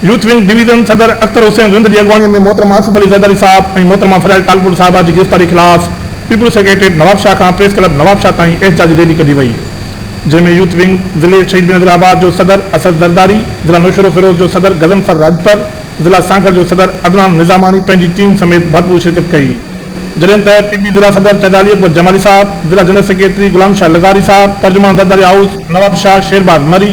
Youth wing division صدر اختر حسين زند جي اڳواڻي ۾ محترم آصف علي زرداري صاحب ۽ محترمه فريال ٽالپر صاحبه جي گرفتاري خلاف پيپلز سيڪريٽريٽ نوابشاهه کان پريس ڪلب نوابشاهه تائين احتجاجي ريلي ڪڍي وئي جنهن ۾ يوٿ ونگ ضلعي شهيد بينظيرآباد جو صدر اسد زرداري، ضلع نوشهروفيروز جو صدر غضنفر راڄپر، ضلع سانگهڙ جو صدر عدنان نظاماڻي پنهنجي ٽيم سميت ڀرپور شرڪت ڪئي جڏهن ته پي پي ضلع صدر چيدالي اڪبر جمالي صاحب، ضلع جنرل سيڪريٽري غلام شاهه لغاري صاحب، ترجمان زرداري هائوس نوابشاهه شيرباز مري،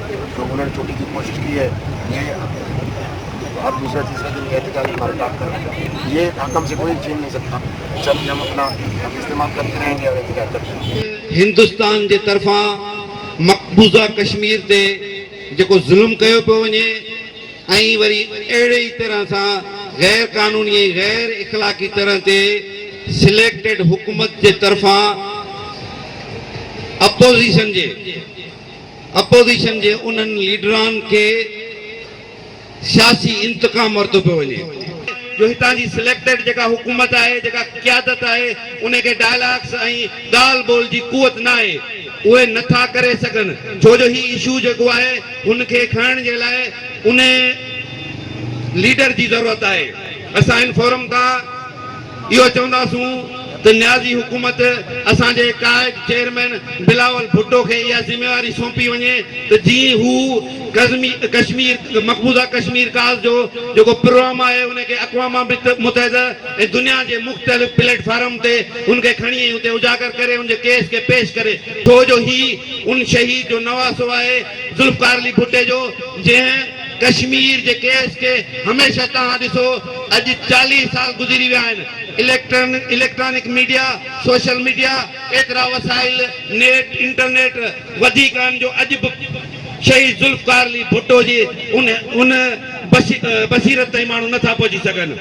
جو انهن ڇوٽي جي ڪوشش ڪي هي جي اب دوسرا تيسرا دن احتجاج کا رڪارڊ کر ديا جي حاڪم سي ڪوئي ڇين نهي سڪتا جب جي هم اپنا حق استعمال ڪرتي رهين گي اور احتجاج ڪرتي رهين گي. هندستان جي طرفان مقبوضه ڪشمير تي جيڪو ظلم ڪيو پيو وڃي ۽ وري اهڙي ئي طرح سان غير قانوني ۽ غير اخلاقي طرح تي سليڪٽيڊ حڪومت جي طرفان اپوزيشن جي اپوزيشن جي انهن ليڊران کي سياسي انتقام ورتو پيو وڃي. جو هتان جي سليڪٽيڊ جيڪا حڪومت آهي، جيڪا قيادت آهي، ان کي ڊائلاگس ۽ ڳالهه ٻولهه جي قوت ناهي. اهي نه ٿا ڪري سگهن، ڇو جو هي اشو جيڪو آهي، هن کي کڻڻ جي لاء انهي ليڊر جي ضرورت آهي. اسان هن فورم تان. اهو چونداسون ته نيازي حڪومت اسان جي قائد چيئرمين بلاول ڀٽو کي اها ذميواري سونپي وڃي ته جيئن هو ڪزمي ڪشمير مقبوضه ڪشمير ڪاز جو جيڪو پروام آهي ان کي اقوام متحده ۽ دنيا جي مختلف پليٽ فارم تي ان کي کڻي ۽ اتي اجاگر ڪري ان جي ڪيس کي پيش ڪري ڇو جو هي ان شهيد جو نواسو آهي ذوالفقار علي ڀٽي جو جنهن ڪشمير جي ڪيس کي هميشه طرح ڏسو، اڄ چاليهه سال گذري ويا آهن، اليڪٽرانڪ ميڊيا، سوشل ميڊيا، ايترا وسائل، نيٽ، انٽرنيٽ، وڌيڪ آهن جو اڄ به شهيد ذوالفقار علي ڀٽو جي ان بصيرت تائين ماڻهو نٿا پهچي سگهن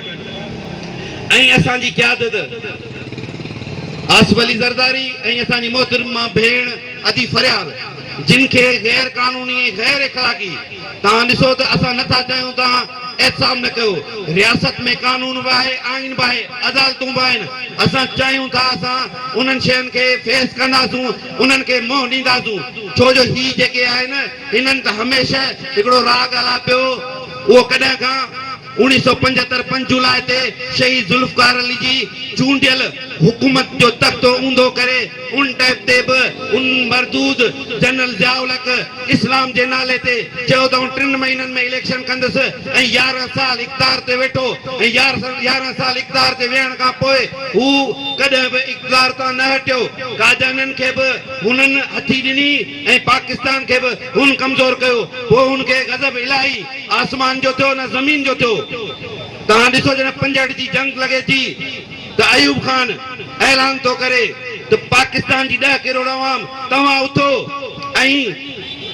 ۽ اسان جي قيادت آصف علي زرداري ۽ اسان جي محترمه ڀيڻ ادي فريال جن کي غير قانوني ۽ غير اخلاقي توهان ڏسو ته اسان نه ٿا چاهيون توهان احتساب نه ڪيو. رياست ۾ قانون به آهي، آئين به آهي، عدالتون به آهن. اسان چاهيون ٿا اسان انهن شين کي فيس ڪنداسون، انهن کي منهن ڏينداسون. ڇو جو هي جيڪي آهن هنن ته هميشه هڪڙو راڳ آلاپيو هو ڪڏهن کان. اوڻيهه سؤ پنجهتر پنج جولاء تي شهيد ذوالفقار علي جي چونڊيل حڪومت جو تختو اونڌو ڪري ان ٽيپ تي به ان مردود جنرل ضياء الحق اسلام جي نالي تي چيو ته آئون ٽن مهينن ۾ اليڪشن ڪندس ۽ يارهن سال اقتدار تي ويٺو ۽ يارهن سال اقتدار تي ويهڻ کان پوء هو ڪڏهن به اقتدار تان نه هٽيو ڪاجانن کي به هنن هٿي ڏني ۽ پاڪستان کي به هن ڪمزور ڪيو، پوء هن کي غضب الاهي آسمان جو ٿيو نه زمين جو ٿيو. توهان ڏسو جڏهن پنجهٺ جي جنگ لڳي ٿي ته ايوب خان اعلان ٿو ڪري ته پاڪستان جي ڏهه ڪروڙ عوام توهان اٿو ۽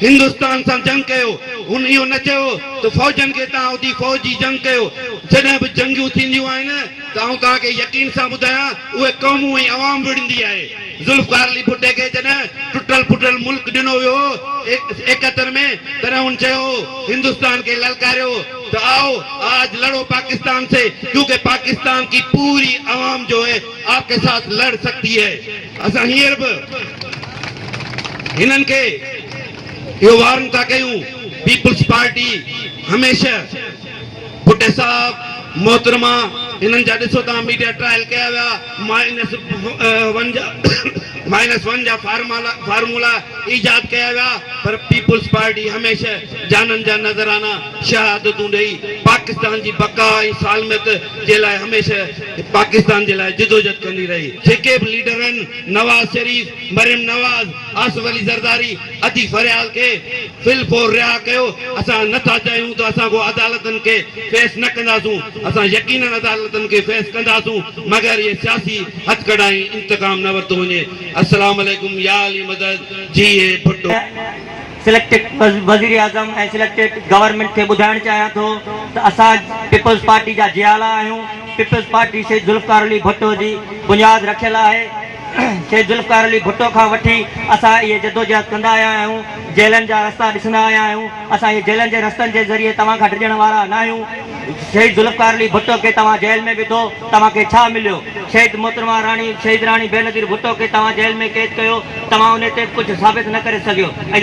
هندستان سان جنگ ڪيو، هن اهو نه چيو ته فوجن کي توهان اٿي فوج جي جنگ ڪيو، جڏهن به جنگيون ٿينديون آهن ته آئون توهان کي يقين سان ٻڌايان اهي قومون ۽ عوام وڙهندي آهي. ذوالفقار علي ڀٽي کي جڏهن ٽٽل ڦٽل ملڪ ڏنو ويو هو ايڪهتر ۾ تڏهن هن چيو هو هندستان کي للڪاريو هو ته آئو آج لڙو پاڪستان سي ڪيونڪه پاڪستان ڪي پوري عوام جو هي آپ ڪي ساٿ لڙ سڪتي هي اسان هينئر به هنن کي اهو وارن ٿا ڪيون پيپلز پارٽي هميشه ڀٽي صاحب، محترمه هنن جا ڏسو توهان ميڊيا ٽرائل ڪيا ويا مائنس ون جا مائنس ون جا فارمالا فارمولا ايجاد ڪيا ويا پر پيپلز پارٽي هميشه جانن جا نذرانه شهادتون ڏئي پاڪستان جي بقا ۽ سالميت جي لاء هميشه پاڪستان جي لاء جدوجھد ڪندي رهي. جيڪي به ليڊر آهن نواز شريف، مريم نواز، آصف علي زرداري ادي فريال کي في الفور رها ڪيو، اسان نه ٿا چاهيون ته اسان ڪو عدالتن کي فيس نه ڪنداسون، اسان يقينن عدالتن کي فيس ڪنداسون مگر اهي سياسي هٿڪڙا ۽ انتقام نه ورتو وڃي. السلام عليڪم يا علي مدد جي اي ڀٽو. سليڪٽيڊ وزيراعظم ۽ سليڪٽيڊ گورنمينٽ کي ٻڌائڻ چاهيان ٿو ته اسان پيپلز پارٽي جا جيالا آهيون، پيپلز پارٽي شهيد ذوالفقار علي ڀٽو جي بنياد رکيل آهي، کي ذوالفقار علي ڀٽو کان وٺي اسان اهي جدوجهد ڪندا آيا آهيون، جيلن جا رستا ڏسندا آيا آهيون، اسان اهي جيلن جي رستن جي ذريعي توهان کان ڊڄڻ وارا ناهيون، شهيد ذوالفقار علي ڀٽو کي توهان جيل ۾ وڌو توهان کي ڇا مليو، شهيد محترمه راڻي شهيد راڻي بينظير ڀٽو کي توهان جيل ۾ قيد ڪيو توهان انهي تي به ڪجهه ثابت نه ڪري سگهيو ۽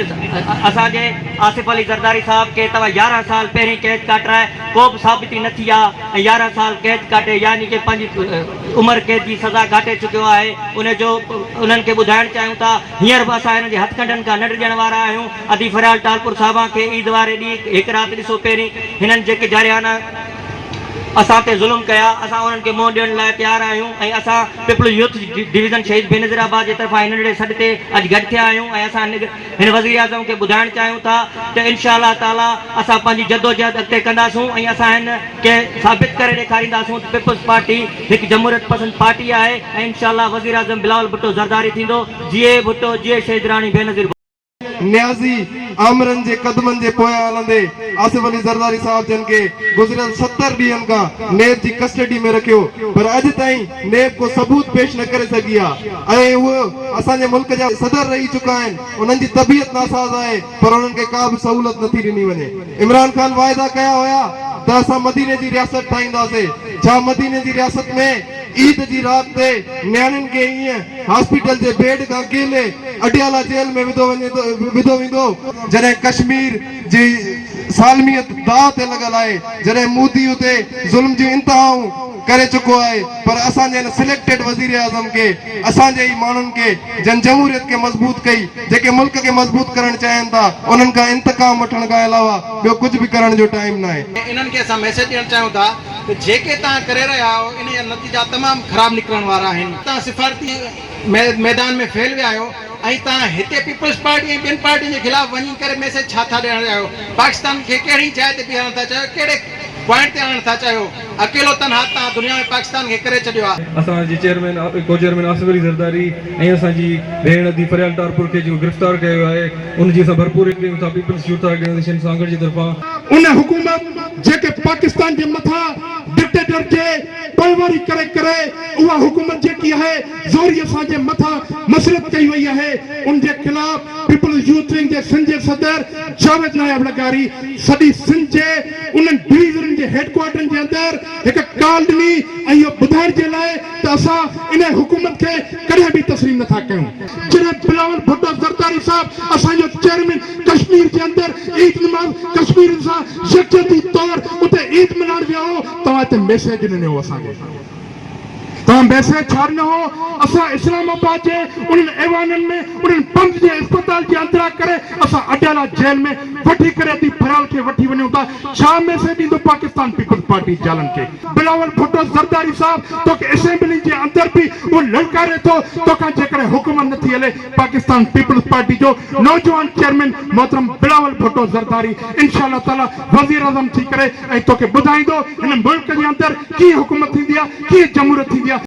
اسان جي آصف علي زرداري صاحب کي توهان يارهن سال پهرين قيد ڪاٽرائي ڪو به ثابتي نه ٿي آ ۽ يارهن سال قيد ڪاٽي يعني ڪي پنهنجي عمر قيد جي سزا ڪاٽي چڪيو آهي ان جو انهن کي ٻڌائڻ چاهيون ٿا هينئر به اسان هنن جي هٿڪنڊن کان نه ڊڄڻ وارا آهيون ادي فريال ٽالپر صاحبان کي عيد واري ڏينهن هڪ رات ڏسو پهرين هنن جيڪي جارحانه اسان تي ظلم ڪيا اسان انهن کي منهن ڏيڻ لاء تيار آهيون ۽ اسان Peoples youth division Shaheed Benazir آباد جي طرفان هن ننڍڙي سڏ تي اڄ گڏ ٿيا آهيون ۽ اسان هن وزيراعظم کي ٻڌائڻ چاهيون ٿا ته انشاء الله تعاليٰ اسان پنهنجي جدوجهد اڳتي ڪنداسون ۽ اسان هن کي ثابت ڪري ڏيکارينداسون ته پيپلز پارٽي هڪ جمهوريت پسند پارٽي آهي ۽ انشاء الله وزيراعظم بلاول ڀٽو زرداري ٿيندو جيئي ڀٽو جيئي شهيد راڻي بينظير ڀٽو. نيازي آمرن جي قدمن جي پويان هلندي آصف علي زرداري صاحب جن کي گذريل ستر ڏينهن کان نيب جي ڪسٽڊي ۾ رکيو پر اڄ تائين ۾ ڪو ثبوت پيش نه ڪري سگهي ها ۽ اهي اسان جي ملڪ جا صدر رهي چڪا آهن انهن جي طبيعت ناساز آهي پر انهن کي ڪا به سهولت نٿي ڏني وڃي عمران خان واعدا ڪيا هيا ته اسان مديني جي رياست ٺاهينداسي ڇا مديني جي رياست ۾ عيد جي رات تي نياڻين کي ائين هاسپيٽل جي بيڊ کان ڪيلي اڊيالا جيل ۾ وڌو وڃي ٿو وڌو ويندو جڏهن ڪشمير جي سالميت داء تي لڳل آهي جڏهن مودي اتي ظلم جون انتهائون. ڪري چڪو آهي پر اسان جي هن سليڪٽيڊ وزيراعظم کي اسان جي ئي ماڻهن کي جن جمهوريت کي مضبوط ڪئي جيڪي ملڪ کي مضبوط ڪرڻ چاهين ٿا انهن کان انتقام وٺڻ کان علاوه ٻيو ڪجهه به ڪرڻ جو ٽائيم ناهي. انهن کي اسان ميسيج ڏيڻ چاهيون ٿا ته جيڪي توهان ڪري رهيا آهيو ان جا نتيجا تمام خراب نڪرڻ وارا آهن توهان سفارتي ميدان ۾ فيل ويا آهيو ۽ توهان هتي پيپلز پارٽي ۽ ٻين پارٽين جي خلاف وڃي ڪري ميسيج ڇا ٿا ڏيڻ چاهيو پاڪستان کي ڪهڙي جاء تي بيهارڻ ٿا چاهيو ڪهڙي پوائنٽ تي آڻڻ ٿا چاهيو. اڪيلو تنها تان دنيا ۾ پاڪستان کي ڪري ڇڏيو آ. اسان جي چيئرمين ڪو چيئرمين آصف علي زرداري ۽ اسان جي ڀيڻ ادي فريال ٽارپور کي جيڪو گرفتار ڪيو ويو آهي ان جي اسان ڀرپوري ڪريون ٿا پيپلز يوٿ آرگنائيزيشن سانگهڙ جي طرفان. ان حڪومت جيڪي پاڪستان جي مٿان ڊڪٽيٽر جي پوئواري ڪري ڪري اها حڪومت جيڪي آهي زوري اسان جي مٿان مسلط ڪئي وئي آهي ان جي خلاف پيپلز يوٿ ونگ جي سنڌ جي صدر جاويد ناياب لغاري سڄي سنڌ جي انهن ڊويزنن جي هيڊڪوارٽرن جي اندر هڪ ڪال ڏني ۽ اهو ٻڌائڻ جي لاء ته اسان انهيء حڪومت کي ڪڏهن به تسليم نه ٿا ڪيون. جڏهن بلاول ڀٽو زرداري صاحب اسان جو چيئرمين ڪشمير جي اندر عيد نماز ڪشميرين سان يڪجهتي طور اتي عيد ملهائڻ ويو هو، توهان هتي ميسيج ڏنو هو اسان کي. توهان بيسر ڇا نه هئو؟ اسان اسلام آباد جي انهن ايوانن ۾ انهن پنڌ جي اسپتال جي اندران ڪري اسان اڊيالا جيل ۾ وٺي ڪري ادي ڀرال کي وٺي وڃون ٿا ڇا ميسيج ايندو پاڪستان پيپلز پارٽي جالن کي؟ بلاول ڀٽو زرداري صاحب توکي اسيمبلي جي اندر به اهو للڪاري ٿو توکان جيڪڏهن حڪومت نٿي هلي پاڪستان پيپلز پارٽي جو نوجوان چيئرمين محترم بلاول ڀٽو زرداري انشاء الله تعالي وزيراعظم ٿي ڪري توکي ٻڌائيندو هن ملڪ جي اندر ڪيئن حڪومت ٿيندي آهي ڪيئن جمهوريت ٿيندي آهي.